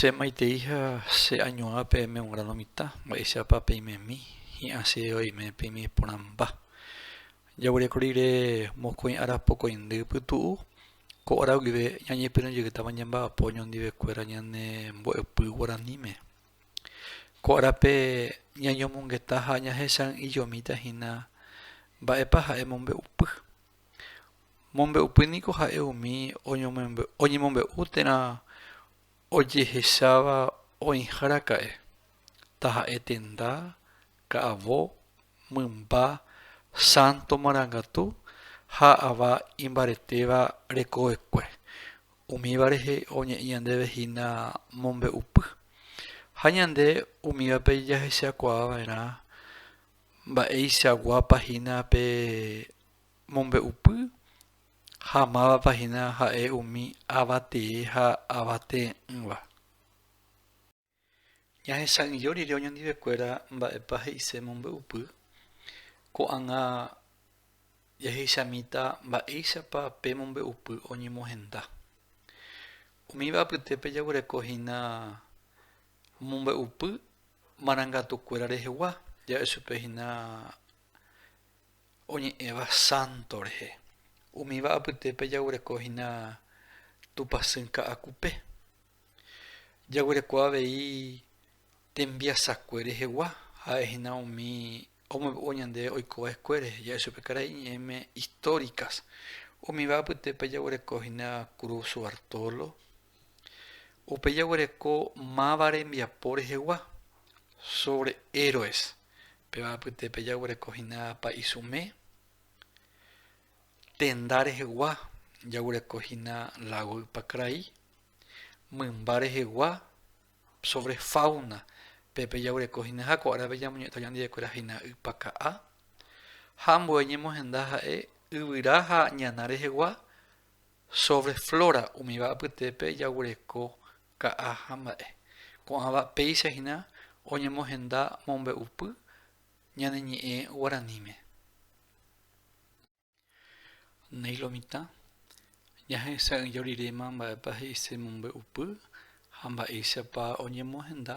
Che maitei ha che añuã peẽme un grano mitã, mba'éichapa peimemi, hi'ã che oime peime porãmba. Jaguereko rire mokõi ára pokõindy pytu'u, ko ára guive ñañepyrũ jeytáva ñemba'apo oñondivekuéra ñane mbo'epy guaraníme. Ko árape ñañomongeta ha ñahesa'ỹijomíta hína mba'épa ha'e mombe'upy. Mombe'upy niko ha'e umi oñemombe'u térã ojehecháva oĩharaka'e, taha'e tenda, ka'avo, mymba, sánto marangatu ha ava imbaretéva rekovekue, umíva rehe oñe'ẽ ñandéve hína mombe'upy. Ha ñande umívape jahechakuaava'erã Mba'eichaguápa hína pe mombe'upy ha mávapa hína ha'e umi ava tee ha ava tee'ỹva. Ñahesa'ỹijo rire oñondivekuéra mba'épa he'ise mombe'upy, ko'ág̃a jahechamíta mba'éichapa pe mombe'upy oñemohenda. Umíva apytépe jaguereko hína Omombe'upy marangatukuéra rehegua ja'e chupe hína oñe'ẽva sánto rehe. Umíva apytépe jaguereko hína tupasy ka'akupe. Jaguereko avei tembiasakue rehegua, ha'e hína umi omombe'u ñande oikova'ekue rehe, ja'e chupe karai iñe'ẽme históricas. Umíva apytépe jaguereko hína Cruz Bartolo, Upe jaguereko máva rembiapo rehegua, sobre héroes, péva apytépe jaguereko hína Pa'isume, tenda rehegua jaguereko hína Lago Ypakrai, mymba rehegua, sobre fauna, pe pe jaguereko hína ha ko árape ñamoñe'ẽta ñandivekuéra hína Ypaka'a, ha ambue ñemohenda ha'e yvyra ha ñana rehegua, Sobre flora umíva apytépe jaguereko ka'a ha mba'e. Ko'ãva péicha hína oñemohenda mombe'upy ñane ñe'ẽ guaraníme. Néi lo mitã, ñahesa'ỹijo riréma mba'épa he'ise mombe'upy ha mba'éichapa oñemohenda,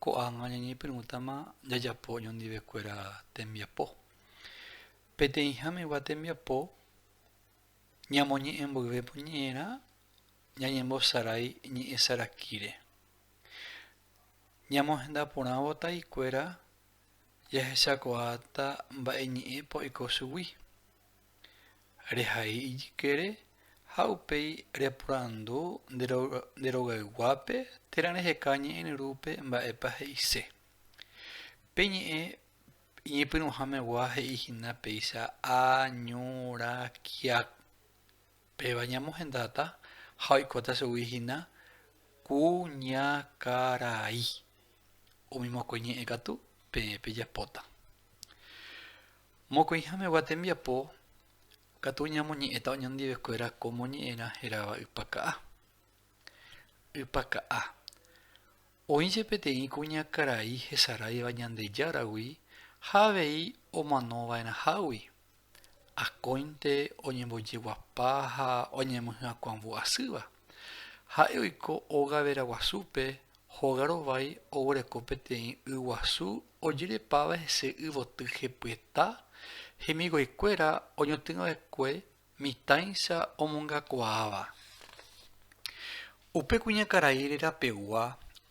ko'ág̃a ñañepyrũtama jajapo oñondivekuéra tembiapo. Peteĩháme gua tembiapo ñamoñe'ẽ mboyve po ñe'ẽrã ñañembosarái ñe'ẽ sarakíre. Ñamohenda porãvo taikuéra jahechakuaáta mba'e ñe'ẽ po oiko chugui. Rehai ijykére ha upéi reporandu nde rogayguápe térã reheka ñe'ẽryrúpe mba'épa he'ise. Pe ñe'ẽ Iñepyrũhamegua he'i hína péicha a ñu ra kia péva ñamohendáta ha oikóta chugui hína ku ña karai. Umi mokõi ñe'ẽ katu peẽ pejapóta. Mokõihamegua tembiapo katu ñamoñe'ẽta oñondive kuéra ko moñe'ẽrã heráva ypaka'a. Ypaka'a. Oĩ che peteĩ kuñakarai hesaráiva Ñandejáragui ha avei omanova'erãhágui, akóinte oñembojeguapa ha oñemohyakuãvu asýva. Ha'e oiko óga veraguasúpe, hóga rovái oguereko peteĩ y guasu ojerepáva hese yvoty hepyeta, hemiguaikuéra oñotỹva'ekue Mitãicha omongakuaáva. Upe kuñakarai rerapegua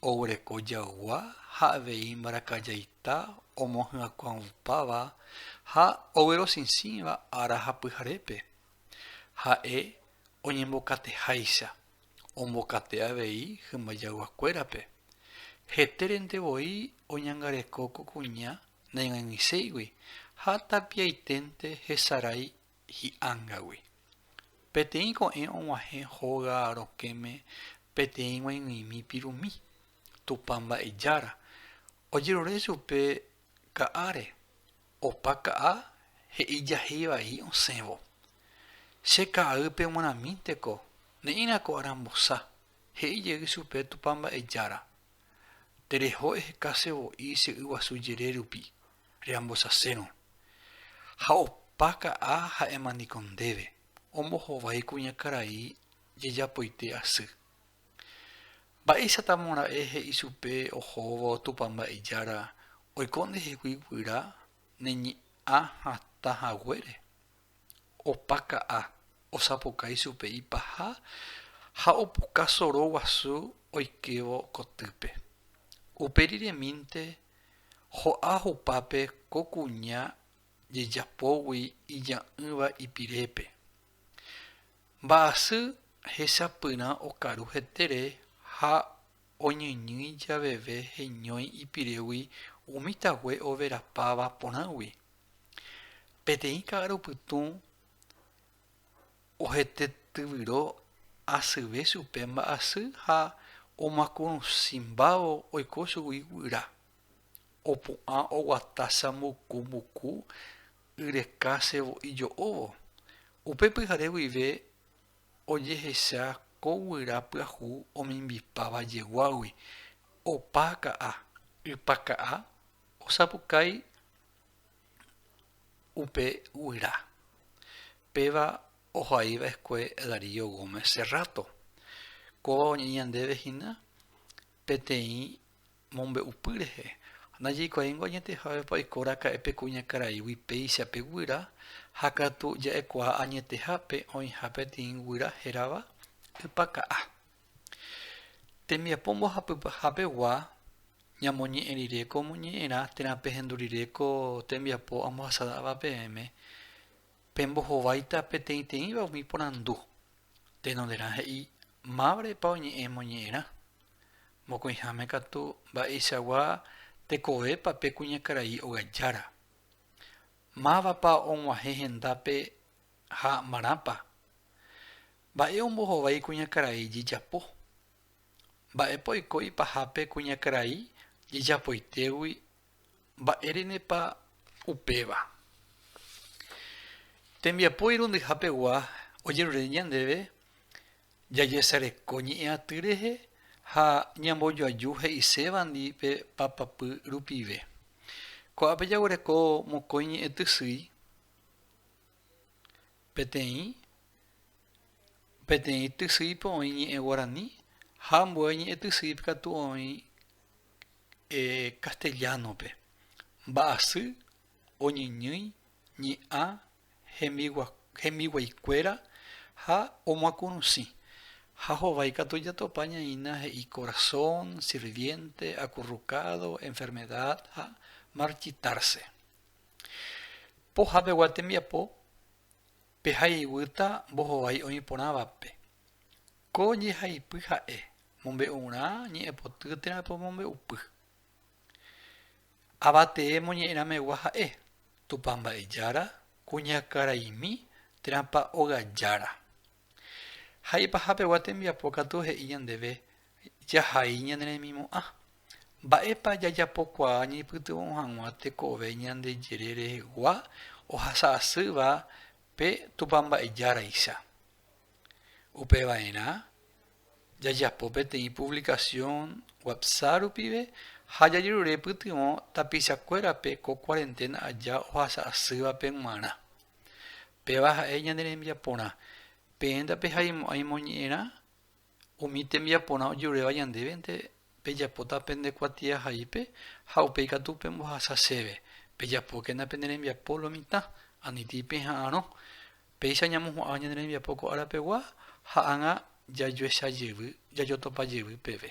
oguereko jaygua ha avei mbarakajaita omohyakuãupáva ha oguerosĩsĩva ára ha pyharépe. Ha'e oñembokateháicha, ombokate avei hymba jayguakuérape. Hetérente voi oñangareko ko kuña naig̃uaig̃uiséigui ha tapiaiténte hesarái hi'ángagui. Peteĩ ko'ẽ og̃uahẽ hóga rokẽme peteĩ g̃uaig̃uimi pirumi, Tupã Mba'ejára, ojerure chupe ka'áre, opa ka'a he'ijahéi vai osẽvo. Che ka'aýpe g̃uarãmínteko ne'írãko arambosa, he'i jey chupe Tupã Mba'ejára. Tereho ehekase voi che y guasu jere rupi, reambosasérõ. Ha opa ka'a ha'éma niko ndéve, ombohovái kuñakarai jejapoite asy. Mba'éichatamo ra'e he'i chupe ohóvo Tupã Mba'ejára oiko ndehegui guyra neñe'ã hatã haguére? opa ka'a osapukái chupe ipaha ha opuka soro guasu oikévo kotýpe. Upe riremínte ho'a hupápe ko kuña jejapógui ija'ỹva ipirépe. Mba'asy hechapyrã okaru hetére ha oñeñýi javeve heñói ipirégui umi tague overapáva porãgui. Peteĩ ka'arupytũ ohete tyvyro asyve chupe mba'asy ha omakurusĩmbávo oiko chugui guyra. Opu'ã oguata chambuku mbuku yreka sevo'i jo'óvo. Upe pyhare guive ojehecha ko guyra pyahu omimbipáva jeguágui, opa ka'a, ypa ka'a osapukái upe guyra. Péva ohai va'ekue Darío Gómez Serrato. Kóva oñe'ẽ ñandéve hína peteĩ mombe'upy rehe. Najaikuaáingo añetehávepa oikóraka'e pe kuñakaraígui péicha pe guyra ha katu ja'ekuaa añetehápe oĩha peteĩ guyra hérava Ypaka'ã. Tembiapo mbohapyhapegua, ñamoñe'ẽ rire ko ñe'ẽrã térã pehendu rire ko tembiapo ambohasáva peẽme, pembohováita peteĩteĩva umi porandu. Tenonderã he'i mávrepa oñe'ẽ moñe'ẽrã. Mokõiháme katu mba'eichagua tekovépa pe kuñakarai ogajára. Mávapa og̃uahẽ hendápe ha marãpa. Mba'e ombohovái kuñakarai jejapo? Mba'épa oiko ipahápe kuñakarai jejapoitégui mba'érenepa upéva? Tembiapo irundyhapegua ojerure ñandéve jajesareko ñe'ẽ aty rehe ha ñambojoaju he'isévandi pe papapy rupive. Ko'ápe jaguereko mokõi ñe'ẽtysýi Peteĩ peteĩ tysýipe oĩ ñe'ẽ guarani ha ambue ñe'ẽ tysýipe katu oĩ castellano-pe. Mba'asy oñeñýi ñe'ã hembiguaikuéra ha omoakũrusĩ, ha hovái katu jatopa ñaína he'i corazón, sirviente, acurrucado, enfermedad ha marchitarse. Pohapegua tembiapo pehayhúta mbohovái oĩ porãvape. Ko jehaipy ha'e mombe'urã ñe'ẽpoty térã pomombe'upy. Avatee moñe'ẽramegua ha'e, Tupã Mba'ejára, Kuñakaraimi, Térãpa Ogajára. Haipa hapegua tembiapo katu he'i ñandéve Jahai ñane remimo'ã. Mba'épa jajapokuaa ñaipytyvõ hag̃ua tekove Ñandejére rehegua ohasa asýva pe Tupã Mba'ejáraicha? Upeva'erã, jajapo peteĩ puvlikasión WhatsApp rupive ha jajerure pytyvõ tapichakuérape ko kuarenténa aja ohasa asývape g̃uarã. Péva ha'e ñane rembiaporã. Peẽta pehaimo'ãi moñe'ẽrã? Umi tembiaporã ojeruréva ñandévente pejapóta pende kuatiahaípe ha upéi katu pembohasa chéve, pejapókena pene rembiapo lo mitã, anitĩ peha'arõ. Péicha ñamohu'ãva ñane rembiapo ko árapegua ha ág̃a jajuecha jevy, jajotopa jevy peve.